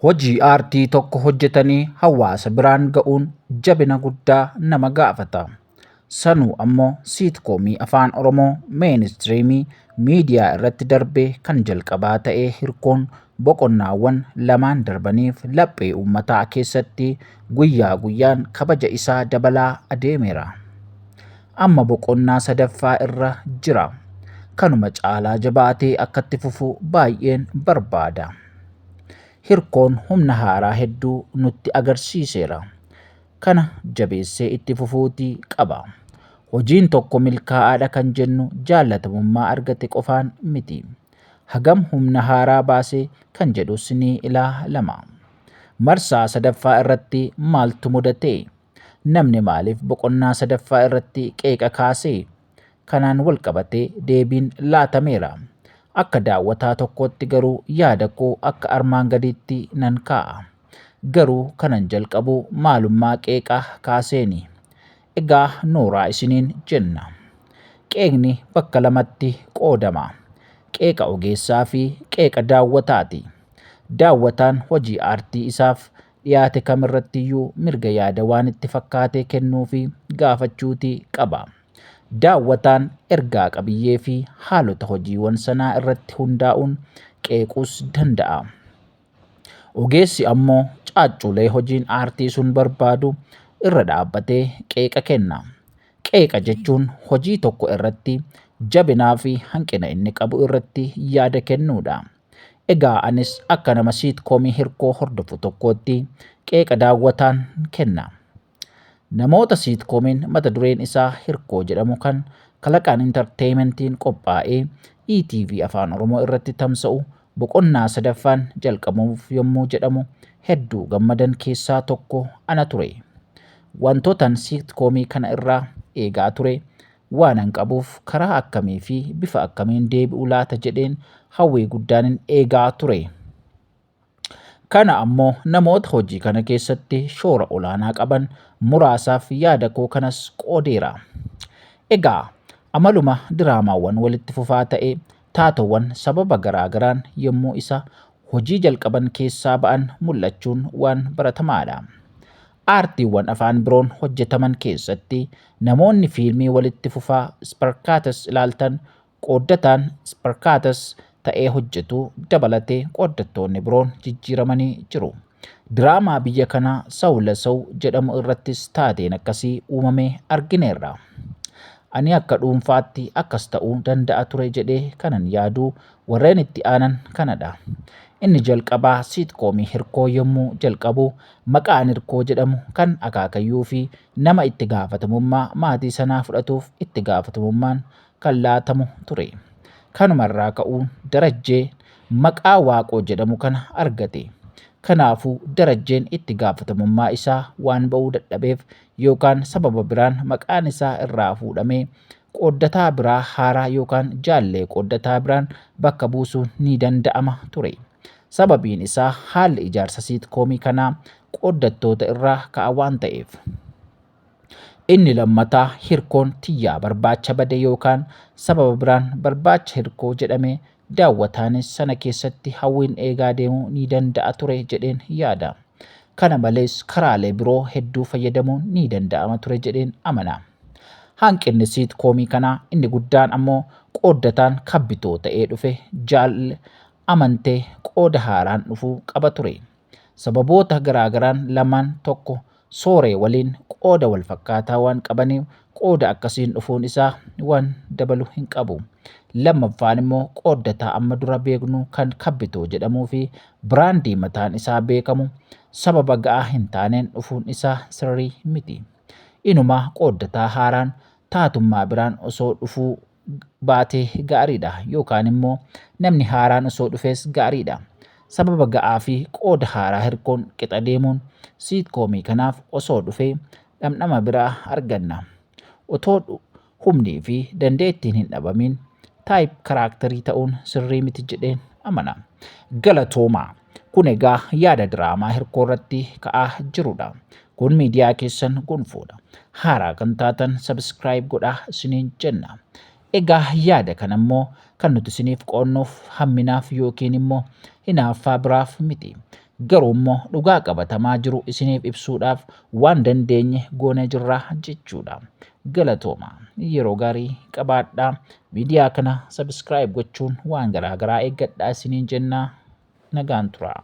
Hojii aartii tokko hojjetanii hawaasa biraan ga'uun jabina guddaa nama gaafata. Sanuu ammoo siitkoomii afaan Oromoo meenistiriimii miidiyaa irratti darbee kan jalqabaa ta'ee hirkoon boqonnaawwan lamaan darbaniif laphee uummataa keessatti guyyaa guyyaan kabaja isaa dabalaa adeemeera. amma boqonnaa sadaffaa irra jira. Kanuma caalaa jabaatee akkatti fufu baay'een barbaada. Hirkoon humna haaraa hedduu nutti agarsiiseera. Kana jabeessee itti fufuutii qaba. Hojiin tokko milkaa'aadha kan jennu jaallatamummaa argate qofaan miti. Hagam humna haaraa baase kan jedhus ni ilaalama. Marsaa sadaffaa irratti maaltu mudatee? Namni maaliif boqonnaa sadaffaa irratti qeeqa kaase? Kanaan walqabatee deebiin laatameera. Akka daawwataa tokkootti garuu yaada koo akka armaan gadiitti nan kaa'a. Garuu kanan jalqabu maalummaa qeeqa kaaseeni. Egaa nooraa isiniin jenna. Qeeqni bakka lamatti qoodama. Qeeqa ogeessaa fi qeeqa daawwataati. Daawwataan hojii aartii isaaf dhiyaate kam irrattiyyuu mirga yaada waan itti fakkaatee kennuu fi gaafachuuti qaba. Daawwataan ergaa qabiyyee fi haalota hojiiwan sanaa irratti hundaa'uun qeequus danda'a. Ogeessi ammoo caacculee hojiin aartii sun barbaadu irra dhaabbatee qeeqa kenna. Qeeqa jechuun hojii tokko irratti jabinaa fi hanqina inni qabu irratti yaada kennuudha. Egaa anis akka nama siitkoomii hirkoo hordofu tokkootti qeeqa daawwataan kenna. Namoota siitkomiin mata dureen isaa hirkoo jedhamu kan kalaqaan intarteementiin qophaa'ee ETV Afaan Oromoo irratti tamsa'u boqonnaa sadaffaan jalqabamuuf yommuu jedhamu hedduu gammadan keessaa tokko ana ture. Wantootan siitkoomii kana irraa eegaa ture waanan qabuuf karaa akkamii fi bifa akkamiin deebi'u laata jedheen hawwii guddaanin eegaa ture. Kana ammoo namoota hojii kana keessatti shoora olaanaa qaban muraasaaf yaada koo kanas qoodeera. Egaa amaluma diraamaawwan walitti fufaa ta'e taatoowwan sababa garaa garaan yommuu isa hojii jalqaban keessaa ba'an mul'achuun waan baratamaadha. Aartiiwwan afaan biroon hojjetaman keessatti namoonni fiilmii walitti fufaa sparkatas ilaaltan qooddataan sparkatas ta'ee hojjetu dabalatee qooddattoonni biroon jijjiiramanii jiru. Diraamaa biyya kanaa Saw la Saw jedhamu irrattis taateen akkasii uumamee argineerra. Ani akka dhuunfaatti akkas ta'uu danda'a ture jedhee kanan yaadu warreen itti aanan kanadha. Inni jalqabaa siitkoomii Hirkoo yommuu jalqabu maqaan Hirkoo jedhamu kan akaakayyuufi nama itti gaafatamummaa maatii sanaa fudhatuuf itti gaafatamummaan kan laatamu ture. Kanuma irraa ka'uun Darajjee maqaa Waaqoo jedhamu kana argate. Kanaafuu Darajjeen itti gaafatamummaa isaa waan ba'uu dadhabeef yookaan sababa biraan maqaan isaa irraa fuudhamee qooddataa biraa haaraa yookaan jaallee qooddataa biraan bakka buusuun ni danda'ama ture. Sababiin isaa haalli ijaarsa siitkoomii kanaa qooddattoota irraa ka'a waan ta'eef. Inni lammataa hirkoon tiyyaa barbaacha bade yookaan sababa biraan barbaacha hirkoo jedhame daawwataanis sana keessatti hawwiin eegaa deemuu ni danda'a ture jedheen yaada. Kana malees karaalee biroo hedduu fayyadamuun ni danda'ama ture jedheen amana. Hanqinni siit koomii kanaa inni guddaan ammoo qooddataan kabbitoo ta'ee dhufe Jaal Amantee qooda haaraan dhufuu qaba ture. Sababoota garaagaraan lamaan tokko sooree waliin qooda walfakkaataa waan qabaniif qooda akkasiin dhufuun isaa waan dabalu hin qabu. Lammaffaan immoo qooddataa amma dura beeknu kan kabbitoo jedhamuu fi biraandii mataan isaa beekamu sababa ga'aa hin taaneen dhufuun isaa sirrii miti. Inumaa qooddataa haaraan taatummaa biraan osoo dhufuu baate gaariidha yookaan immoo namni haaraan osoo dhufes gaariidha. Sababa ga'aa fi qooda haaraa hirkoon qixa deemuun siitkoomii kanaaf osoo dhufe dhamdhama biraa arganna. Otoo humnii fi dandeettiin hin dhabamin taayip karaaktarii ta'uun sirrii miti jedheen amana. Galatoomaa! Kun egaa yaada diraamaa hirkoo irratti ka'aa jirudha. Kun miidiyaa keessan gonfoodha. Haaraa kan taatan sabiskiraayib godhaa isiniin jenna. Egaa yaada kana immoo kan nuti isiniif qoonnuuf hamminaaf yookiin immoo hinaaffaa biraaf miti. Garuu immoo dhugaa qabatamaa jiru isiniif ibsuudhaaf waan dandeenye goonee jirra jechuudha. Galatooma. Yeroo gaarii qabaadhaa. Miidiyaa kana sabiskiraayib gochuun waan garaa garaa eeggadhaa isiniin jenna. nagaan turaa.